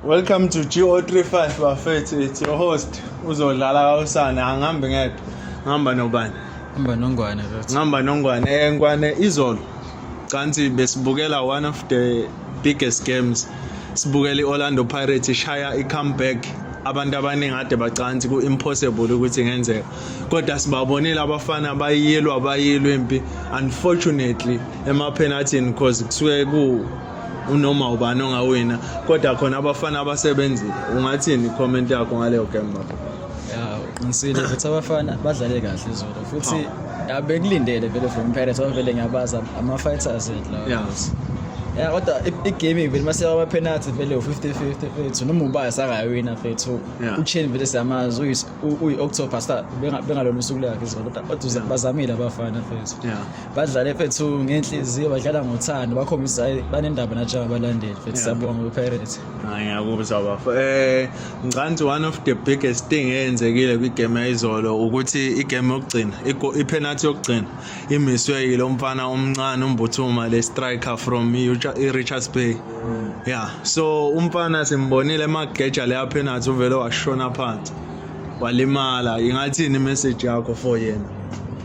Welcome to GO35 bafethu it's your host uzodlala kawusane angihambi ngedwa ngihamba nobani Hamba nongwane that. ngihamba nongwane Eh, ngwane izolo canthi besibukela one of the biggest games sibukela i-orlando pirates ishaya i-comeback abantu abaningi ade bacanthi ku-impossible ukuthi ingenzeka kodwa sibabonile abafana bayilwa bayilwa impi unfortunately emaphenathini because kusuke ku unoma ubani ongawina kodwa khona abafana abasebenzile ungathini comment yakho ngaleyo game baba ya ngisile ukuthi abafana badlale kahle izolo futhi abekulindele vele from Pirates abavele ngiyabaza ama fighters lawo yeah. ya kodwa igaming vele mase ama penalty vele u50 50 fethu noma ubaya sakayawina fethu uchain vele siyamazi uyi-october star bengalona usuku lakhe zona kodwa bazamile abafana fethu badlale fethu ngenhliziyo badlala ngothando bakhombisa banendaba nathi njengabalandeli fethu siyabonga kwipirates ngiyakuzwa bafo um eh, ngicanti one of the biggest thing eyenzekile kwigame yayizolo ukuthi igame yokugcina iphenathi yokugcina imiswe yilo mfana omncane umbuthuma le striker from i-richards bay Yeah, so umfana simbonile emageja le aphenathi uvele washona phansi. Walimala. Ingathini message yakho for yena?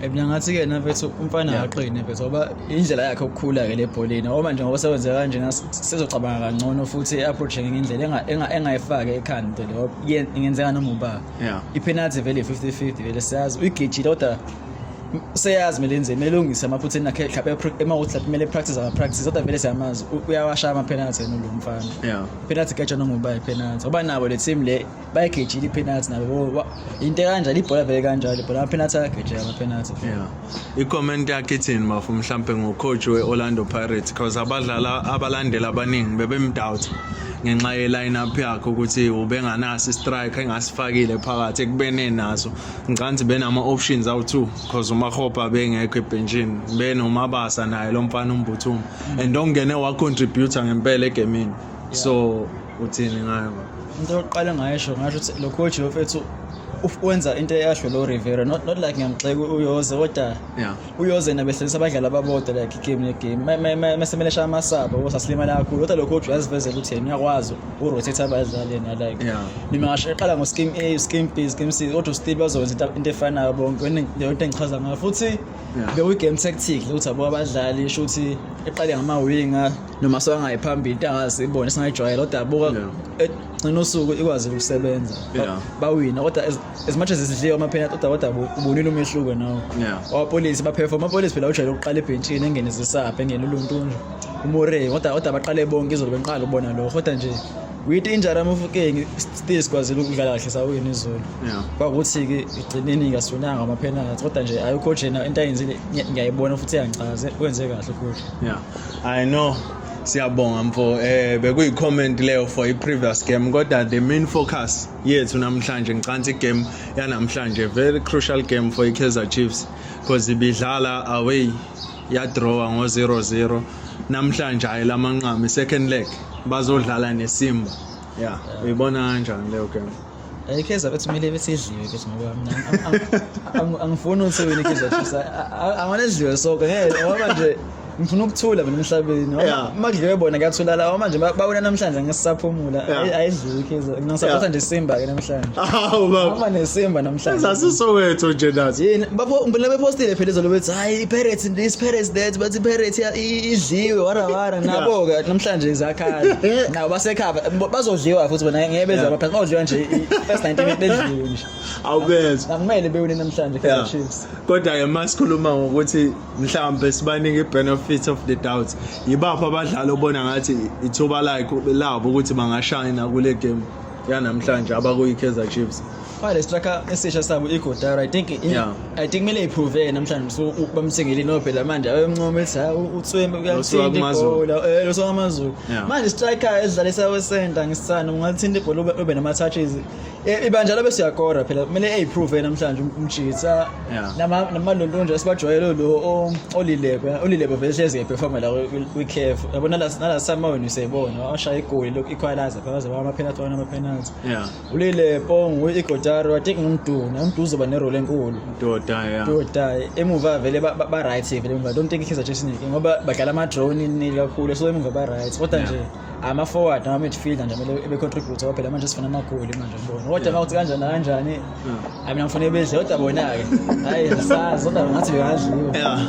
Mina ngathi ke na mfethu umfana akaqine mfethu ngoba indlela yakhe ukukhula ke lebholeni ngoba nje ngoba sewenze kanje sizocabanga kangcono futhi i-approach ngenye indlela engayifaki ekhanda into leyo ingenzeka noma uba i-penalty vele 50-50 vele siyazi uyigijile kodwa seyazi mele enze mele lungise amaphutheni akhe mhlawumbe emawuthi lapho kumele practice ama practice kodwa vele siyamazi uyawashaya ama penalty yena lo mfana yeah penalty kajwa nongoba penalty oba nabo le team le bayigejile penalty nabo into kanjalo ibhola vele kanjalo ibhola ama penalty ayagejela ama penalty yeah i comment yakhe ithini mafu mhlawumbe ngo coach we Orlando Pirates because abadlala abalandela abaningi bebemdoubt ngenxa ye line up yakhe ukuthi ubenganaso i striker engasifakile phakathi ekubene naso ngicanthi benama options awu2 because umahopa bengekho ebhenjini benomabasa naye lo mfana umbuthuma and ongene wa contributor ngempela egamini so uthini ngayo into yokuqala ngayisho ngasho ukuthi lo coach yofethu wenza into eyasho lo Rivera not not like ngiyamxeka uyoze kodwa yeah uyoze yena behlelisa abadlali ababodwa like igame negame mesemele shaya amasaba ukuthi asilimala kakhulu kodwa lokho kodwa uyazivezela ukuthi yena uyakwazi urotate abadlali yena like noma ngasho eqala ngo-scheme a u-scheme b u-scheme c kodwa still bazokwenza into efanayo bonke leyo into engichaza ngayo futhi bewu-game tactic ukuthi abo abadlali isho ukuthi eqale ngamawinga noma sokangayi phambili into angazi ibone singayijwayela kodwa abuka egcina usuku ikwazi ukusebenza bawina kodwa as much as isidliwe amapenalty kodwa kodwa ubonile umehluko nawo abapolisi baperform abapolisi phela ujwayele ukuqala ebhentshini engene zisaphe engene uluntunje umore kodwa kodwa baqale bonke izolo benqala ubona lokho kodwa nje with injury amafukeng still sikwazile ukudlala kahle sawina izolo kwakuthi-ke igcineni kasunanga amapenalty kodwa nje ayi ucoach yena into ayenzile ngiyayibona futhi iyangichaze wenze kahle ucoach yeah i know siyabonga mfo eh bekuyi comment leyo for i previous game kodwa the main focus yethu namhlanje ngicantsa igame yanamhlanje very crucial game for ikaizer chiefs because ibidlala away yadrawa ngo-0-0 namhlanje hhayi la manqama i-second leg bazodlala nesimba ya uyibona kanjani leyo game eh, ikaizer bethi kumele besidliwe bethi ngoba mina angifuni ukuthi wena ikaizer chiefs angona sidliwe soke ngeke ngoba nje ngifuna ukuthula mina emhlabeni Yeah. makudliwe bona kuyathulala awa manje ba- bawina namhlanje ngesisaphumula Yeah. Ayi- ayidliwe ikhizo ngisaphatha Yeah. nje simba ke namhlanje Hawu baba. ama nesimba namhlanje Sasisowetho nje nathi. yini bapho ngibona bepostile phela izolo bethi hayi i-pirates this pirates that but i-pirates ya- i- idliwe warawara nabo-ke namhlanje zakhala nabo basekhava Bo- bazodliwa futhi bona ngeke beze Yeah. abaphansi bazodliwa nje i-first 90 minute bedliwe nje Awubezwa. akumele bewine namhlanje Yeah. kaizer chiefs Kodwa ke masikhuluma ngokuthi mhlawumbe sibaningi i-benefit of the doubt yibaphi abadlali obona ngathi ithuba lakho labo ukuthi bangashayina kule game yanamhlanje abakuyi-kaizer chiefs fale striker esisha sabo igodara i think yeah. i think kumele iprove namhlanje so bamthengele inobhela manje ayomncoma ethi hayi utswembe uyathinta ibhola eh losokamazulu manje striker edlalisa wesenta ngisithanda ungathinta ibhola ube nama-touches Eh, ibandla labe siyakora phela kumele ayiprove namhlanje um- umjitsa Yeah. nama namalondonje esibajwayele lo o- olilebe olilebe vele hlezi eperforma la kwiCAF yabona la nala sama wenu siyibona ashaya igoli lokhu equalizer phela baze bama penalty wana ama penalty Yeah. ulile pongu igotaro i think ngumduna umduzo ba nerole enkulu Doda yeah. Dodai emuva vele ba- ba ba right vele emuva I don't think ikhiza chesini ngoba badlala ama drone nini kakhulu so emuva ba right kodwa Yeah. nje ama forward nama midfielder nje kumele ebe contribute ngoba phela manje sifuna amagoli manje ngibona kodwa mawuthi kanjani kanjani hayi mina ngifuna bedle kodwa bona ke hayi sazi kodwa ngathi bekadliwa yeah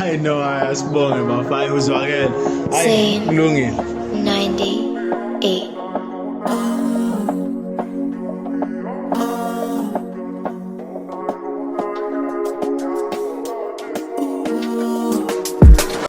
i know i sibonge bafana uzwakele hayi kulungile 98 Ooh.